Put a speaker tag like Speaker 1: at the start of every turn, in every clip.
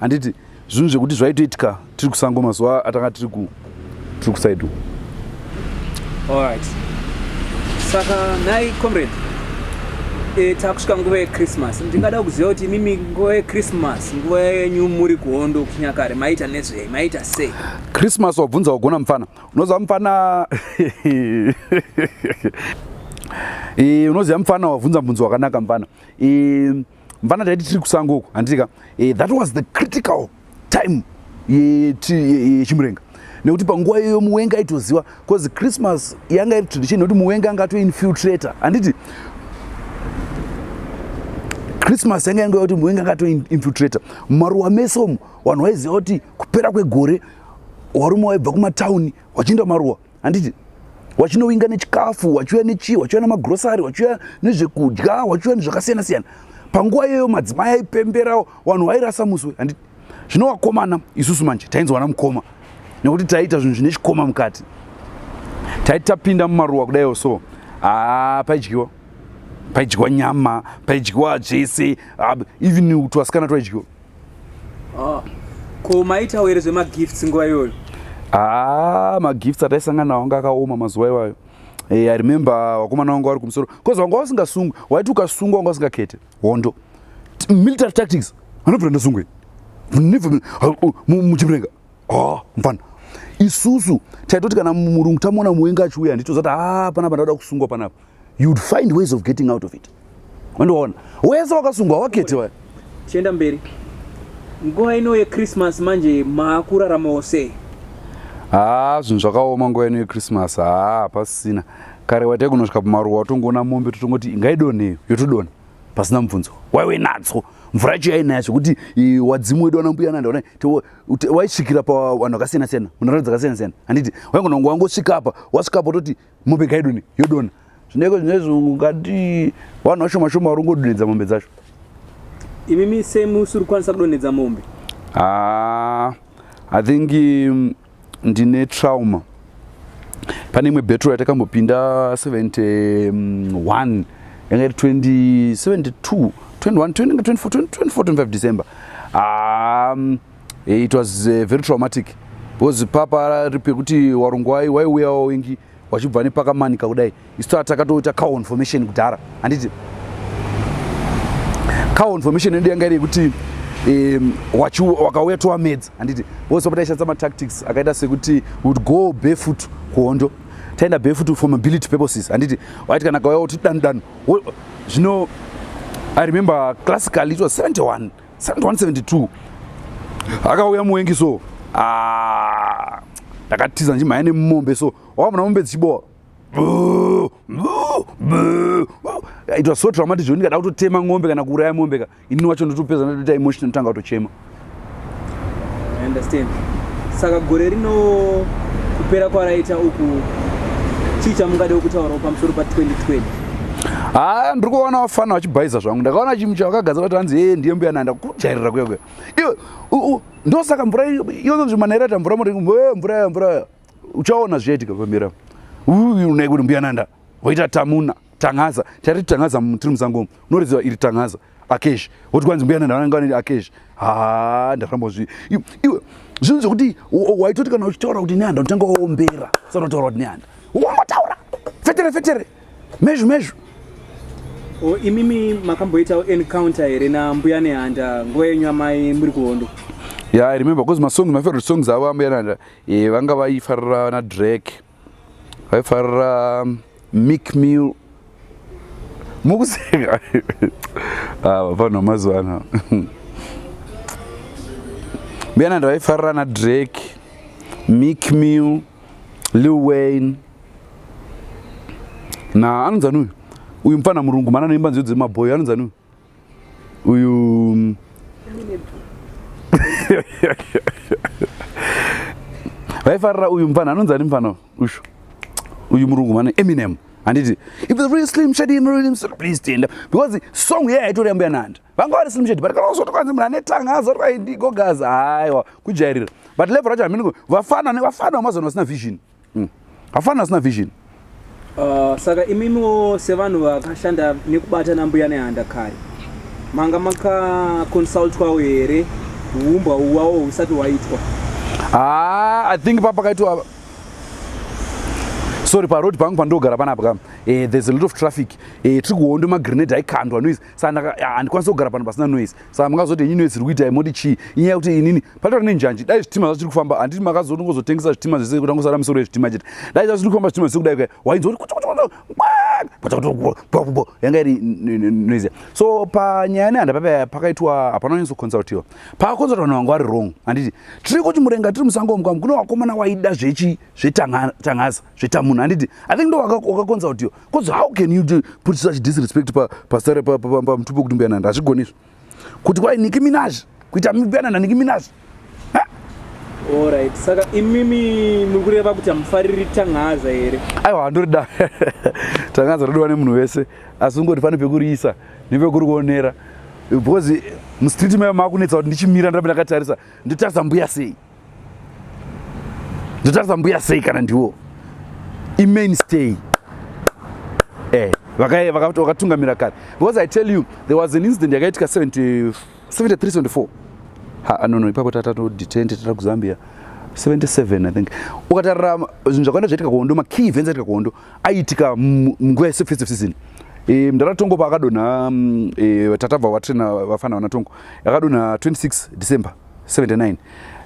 Speaker 1: handiti zvinhu zvekuti zvaitoitika tiri kusango mazuva atanga tiri ku tiri kusaido allright
Speaker 2: saka nhai comrade e, takusvika nguva yechristmas ndingada kuziva kuti imimi nguva yechristmas nguva yenyu muri kuhondo kunyakare maita nezvei maita sei christmas wabvunza
Speaker 1: wagona mupfana unoziva mupfana e, unoziva mupfana wabvunza mubvunzo wakanaka mupfana e, mvana taiti tiri kusango uku handiti ka eh, that was the critical time yechimurenga nekuti panguva iyoyo muwenga aitoziva bcause christmas yanga iri tradition nekuti muwenga anga atoinfiltrator handiti christmas yanga yanga kuti muwenga anga atoinfiltrator mumaruwa mese omu vanhu vaiziva kuti kupera kwegore warume waibva kumatauni wachiinda maruwa handiti wachinowinga nechikafu wachiuya nechii wachiuya nemagrosari wachiuya nezvekudya wachiuya nezvakasiyana siyana panguva iyoyo madzimai aipemberawo vanhu vairasa musi we handiti zvino wakomana isusu manje tainzwana mukoma nekuti taiita zvinhu zvine chikoma mukati taiti tapinda mumaruwa kudaiwo so haa ah, paidyiwa paidyiwa nyama paidyiwa zvese ah, even utwasikana twaidyiwa Ah,
Speaker 2: ko maitawo here zvemagifts nguva iyoyo haa ah,
Speaker 1: magifts ataisangana nawo anga akaoma mazuva iwayo hey, eh, i remember vakomana vanga vari kumusoro bcause vanga vasingasungwi waiti ukasungwa wanga usingakete hondo military tactics anobvira ndasungwe muchimurenga oh, mfana isusu taitoti kana murungu tamuona muwenga achiuya handito zati haa ah, panapa ndauda kusungwa panapa you'd find ways of getting out of it wandiona wese wakasungwa wakete wa chienda mberi
Speaker 2: nguva ino yechristmas manje maakuraramawo sei haa
Speaker 1: ah, zvinhu zvakaoma nguva ino yechristmas haa ah, hapasisina kare waite kunosvika pamaruwa watongoona mombe totongoti ingaidonheyo yotodona pasina mubvunzo waiwe nadzo mvura yacho yainaya zvekuti wadzimu wedu wana mbuya nanda waisvikira pavanhu vakasiyana siyana munharaunda dzakasiyana siyana handiti waingona ngo wangosvika apa wasvika apa ototi mombe kaidoni yodona zvineko zvinezvi ungati vanhu vashoma shoma vari kungodonhedza mombe dzacho
Speaker 2: imimi semusiri kukwanisa kudonhedza mombe ah,
Speaker 1: i think um, ndine trauma pane imwe betro yatakambopinda 71 yanga iri 2072 2425 december um, it was uh, very traumatic because papa ripi yekuti warungwai waiuyawo wengi wachibva nepakamanika kudai isu taa takatoita coinformation kudhara handiti coinformation yedu yanga iri yekuti um, wakauya towamedza handiti vose pataishandisa matactics akaita sekuti would go barefoot kuhondo taenda barefoot for mobility purposes handiti waiti kana kauya woti danu danu zvino i remember classically it was 71 Sand 172 akauya muwengi so ah, ndakatiza ndimhaya nemumombe so wakamona mombe dzichibowa it was so traumatic zvekuti ndikada kutotema ng'ombe kana kuuraya mombe ka ini wacho ndotopedza ndotoita emotion ndotanga kutochema
Speaker 2: understand saka gore rino kupera kwaraita uku chii chamungade kutaurawo pamusoro pa 2020 haa
Speaker 1: ndiri kuona vafana vachibhaiza zvangu ndakaona achimucha vakagadza vati hanzi ee ndiye mbuya nanda kujairira kuya kuya iwe ndosaka mvura iyozonzi manera ta mvura murengu mvura ya mvura ya uchaona zvichaitika pamira unai kuti mbuya nanda voita tamuna tangaza tari tangaza tiri musango unorezewa iri tangaza akesh woti kwanzi mbuya nhanhara anga vaneti akesh ha ndafambozvi iwe zvinhu zvekuti waitoti kana uchitaura kuti nehanda unotanga waombera usati wataura kuti nehanda wangotaura fetere fetere mezvu mezvu o imimi
Speaker 2: makamboitawo encounter here nambuya nehanda nguva yenyu amai muri kuhondo ya yeah, i remember
Speaker 1: bcause masong my favorite songs avo ambuya nehanda eh, vanga vaifarira vana drake vaifarira mic meal mukuseka ah, vanhu vamazuva ano mbiyana ndavaifarira na drake mic meal lil wayne na anonzani uyu uyu mupfana murungu mana anoimba nziyo dzemabhoyo anonzani uyu uyu mm, vaifarira uyu mfana anonzi ani mfana ushu uyu murungu mane eminem handiti if the real slim shady in real slim please stand up because song yeye aitori yambuya nanda vanga vari slim shady but kana uzoto kanzi munhu ane tanga azoti kaindigogaza haiwa kujairira but level racho hamini vafana vafana vamazona vasina vision mm. hafana asina vision uh,
Speaker 2: saka imimiwo sevanhu vakashanda nekubata nambuya nehanda kare manga makaconsultwawo here huumbwa uwawo husati waitwa ah,
Speaker 1: i think papakaitwa sorry paroad pangu pandogara panapa kam eh, there's a lot of traffic eh, tiri kuhondo magrenade aikandwa noise saka ah, handikwanisi kugara pano pasina noise saka mungazoti inyi noise iri kuita imoti chii inyaya yekuti inini patoa ne njanji dai zvitima zvacho tiri kufamba handiti makazotongozotengesa zvitima zvese kuti angosara misoro yezvitima chete dai zvacho tiri kufamba zvitima zvese kudai wainzwa kuti yanga iri noise so panyaya yane handa papa pakaitwa hapana wanyanso consultiwa pakaconsulta vanhu vanga vari wrong handiti tiri kuti murenga tiri musango mukwamu kune wakomana waida zvechi zvetangaza zvetamunhu handiti i think ndo wakaconsultiwa bcause how can you do, put such disrespect pasare pamutupi wekuti mbuyananda hazvigoni izvo kuti kwai niki minaj kuita mbuyananda niki minaj Alright.
Speaker 2: Saka imimi muri kureva kuti hamufariri tangaza here? Aiwa handorida.
Speaker 1: tangaza rodiwa nemunhu wese asi ungoti pane pekuriisa nepekuri kuonera because mustreet mayo makunetsa kuti ndichimira ndiramba ndakatarisa ndotarisa mbuya sei ndotarisa mbuya sei kana ndiwo imainstay eh vakaye vakatungamira kare because i tell you there was an incident yakaitika 73 74 ha no no ipapo tatato detain tata kuzambia 77 i think ukatarira zvinhu zvakawanda zvaitika kuhondo makey events aitika kuhondo aiitika munguva yesefestive season e, mdara tongo paakadonha e, tatabva watrina vafana vana tongo yakadonha 26 december 79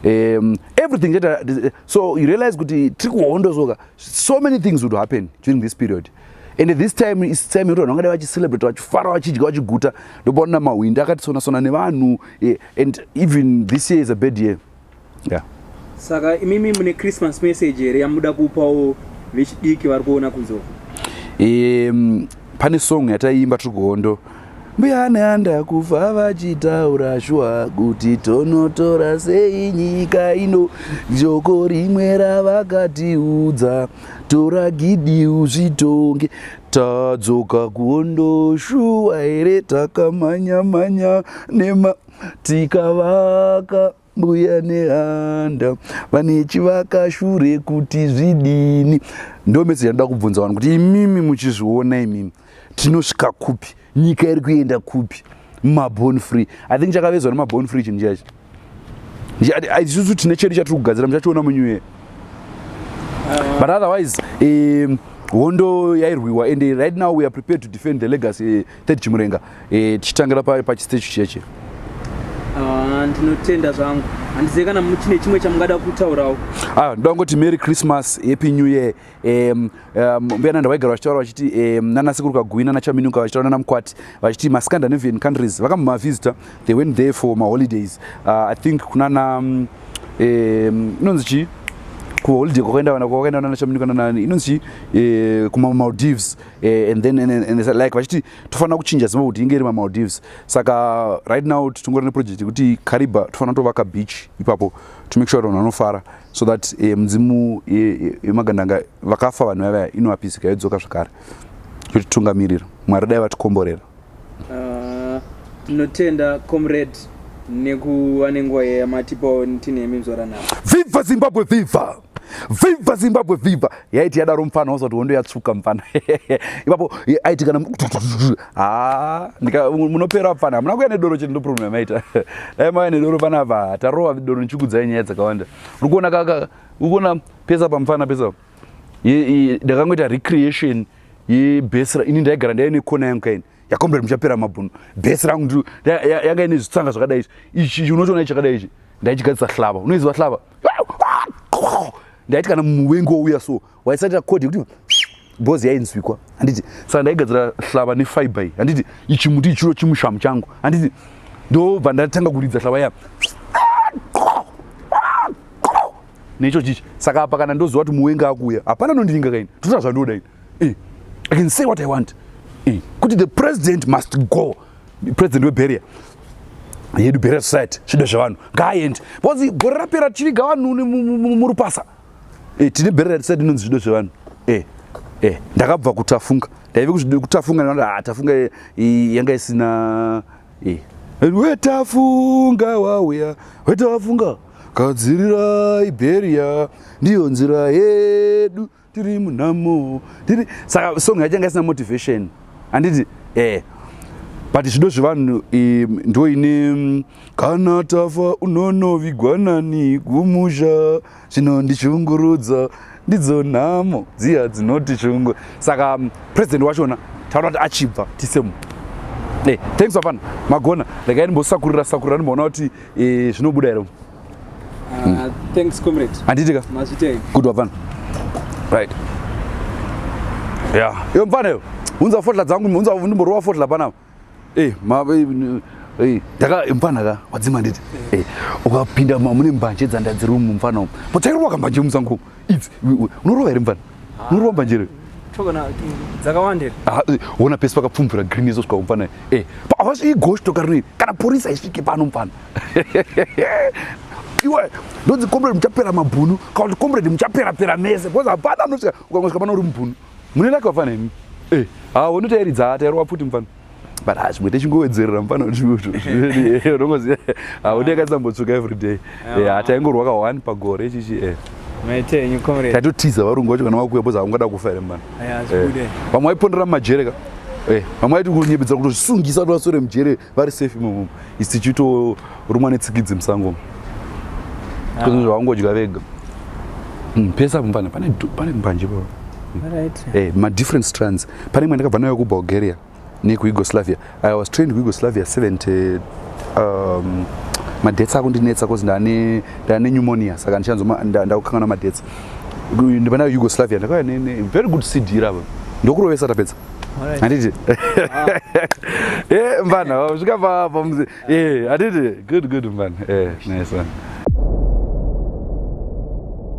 Speaker 1: um, everything cheta so you realize kuti tiri kuhondo soka so many things would happen during this period and this time is time yekuti vanhu vangadai vachicelebrate vachifara vachidya vachiguta ndopaona mahwindi akatisonasona nevanhu eh, and even this year is a bad year yeah. saka
Speaker 2: imimi mune christmas message here yamuda kupawo vechidiki vari kuona kunzoko um,
Speaker 1: pane song yataiimba tiri kuhondo Mbuya neanda kufa vachitaura shuwa kuti tonotora sei nyika ino joko rimwe ravakatiudza tora gidi uzvitonge tadzoka kuondo shuwa here takamhanya mhanya nema tikavaka mbuya nehanda vane chivakashure kuti zvidini ndo message yanoda kubvunza vanhu kuti imimi muchizviona imimi tinosvika kupi nyika iri kuenda kupi mabon free i think chakavezwa nemabon free chinhu chachi isusu tine chedu chatiri kugadzira muchachiona munew year but otherwise um, hondo yairwiwa and right now we are prepared to defend the legacy Ted Chimurenga, eh, tichitangira pa pachistage cheche. Ah, ndinotenda
Speaker 2: zvangu handizive kana chine chimwe chamungada kutaurawo ah, ndoda kungoti merry
Speaker 1: christmas happy new year um, um, mbuya nanda vaigara vachitaura vachiti um, nanasekuru kagui nanachaminuka vachitaura nanamukwati vachiti mascandinavian countries vakamumavisitor they went there for maholidays uh, i think kunana um, inonzi chii kuholiday kwakaenda vana kwakaenda vana nachaminuka nanani inonzi chii eh, kumamaldives Eh, and then and, and, and, like vachiti tofanira kuchinja zimba kuti inge iri mamaldives saka right now tingori neproject yekuti cariba tofanira tovaka beach ipapo to make sure kuti vanhu vanofara so that eh, mudzimu yemagandanga eh, vakafa vanhu vavaya inovapisika yodzoka zvakare yotitungamirira mwari dai vatikomborera ah,
Speaker 2: tinotenda uh, comrade nekuva nenguva yamatipawo tinemi mzoranavo viva zimbabwe
Speaker 1: viva Viva Zimbabwe viva yaiti yadaro mfana wazoti hondo yatsvuka mfana ipapo aiti kana ha ndika munopera mfana hamuna kuya nedoro chete ndoproblem yamaita dai mauya nedoro panapa tarova doro nichikudzai nyaya dzakawanda uri kuona kaka uri kuona pesa pamfana pesa ndakangoita recreation yebesra ini ndaigara ndaive nekona yangu kaini yakombere muchapera mabhunu bhesi rangu yanga ine zvitsanga zvakadai izvi ichi unochiona ichi chakadai ichi ndaichigadzisa hlava unoiziva hlava ndaiti kana muwengi wouya so waisatira kodi kuti bhozi yainzwikwa handiti saka ndaigadzira hlava nefiber iyi handiti ichi muti ichiro chimushamu changu handiti ndobva ndatanga kuridza hlava ya necho chichi saka apa kana ndoziva kuti muwengi akuuya hapana nondinga kaini toita zvandoda ini Eh, I can say what I want. Eh, kuti the president must go. President weBeria yedu Beria society zvido zvevanhu ngaaende because gore rapera tichiviga vanhu murupasa eh, tine Beria society inonzi zvido zvevanhu eh, eh, ndakabva kutafunga ndaive kutafunga ndati ah, tafunga yanga isina wetafunga wauya wetafunga gadzirira iberia ndiyo nzira yedu tiri munhamo tiri saka song yacho yanga isina motivation handiti eh but zvido zvevanhu ndo ine kana tafa unonovigwa nani kumusha zvinondishungurudza ndidzo nhamo dziya dzinotishungu saka president wachona taona kuti achibva tisemu eh, thanks vafana magona regai ndimbosakurira sakurira ndimboona kuti eh, zvinobuda here Uh,
Speaker 2: thanks comrade. Anditika. Mazvitei.
Speaker 1: Good wafana. Right. Yeah. Yo mfana yo. Unza fotla dzangu, unza ndimborowa fotla pana. Eh, ma eh, eh taka eh, mfana ka wadzima nditi. Eh, ukapinda mune mbanje dzanda dziri mu mfana umu. Potairwa kambanje musangu. It's unorova here mfana? Ah. Unorova mbanje here? tokana
Speaker 2: dzakawandira ah, eh, ona
Speaker 1: pesi pakapfumbira green izo svikaumpana e eh, pavasvii goshi tokarnei kana porisa isvike pano mpana iwe ndonzi comrade muchapera mabhunu kana kuti comrade muchapera pera mese because hapana anosvika ukangasvika pana uri mubhunu mune lake wafana imi e eh, ha wonotairidza tairova pfuti mufana but ha zvimwe techingowedzerera mufana unongoziva ha woti yakatsambotsvuka every day eh, ha taingorwaka one pagore chichi e eh. maitenyu comrade taitotiza varungu vacho kana vakuya boza havangada kufa here mufana vamwe vaipondera mumajereka vamwe vaiti kunyepedzera kutosungisa kuti vasore mujere vari safe imomo isi tichitorumwa netsikidzi musango ah. zvavangodya vega hmm, pese apo pane pane mbanje pa eh, madifferent strands pane imwe ndakabva nayo kubulgaria nekuyugoslavia i was trained kuyugoslavia 70 um, madhets ako ndinetsa bcause ndane ndane pneumonia saka ndichanzo ndakukangana madhets ndipanayo yugoslavia ndakauya very good cd rava ndokurovesa tapedza handiti eh, mvana vasvika pamuzi eh, handiti good good mvana eh, nice one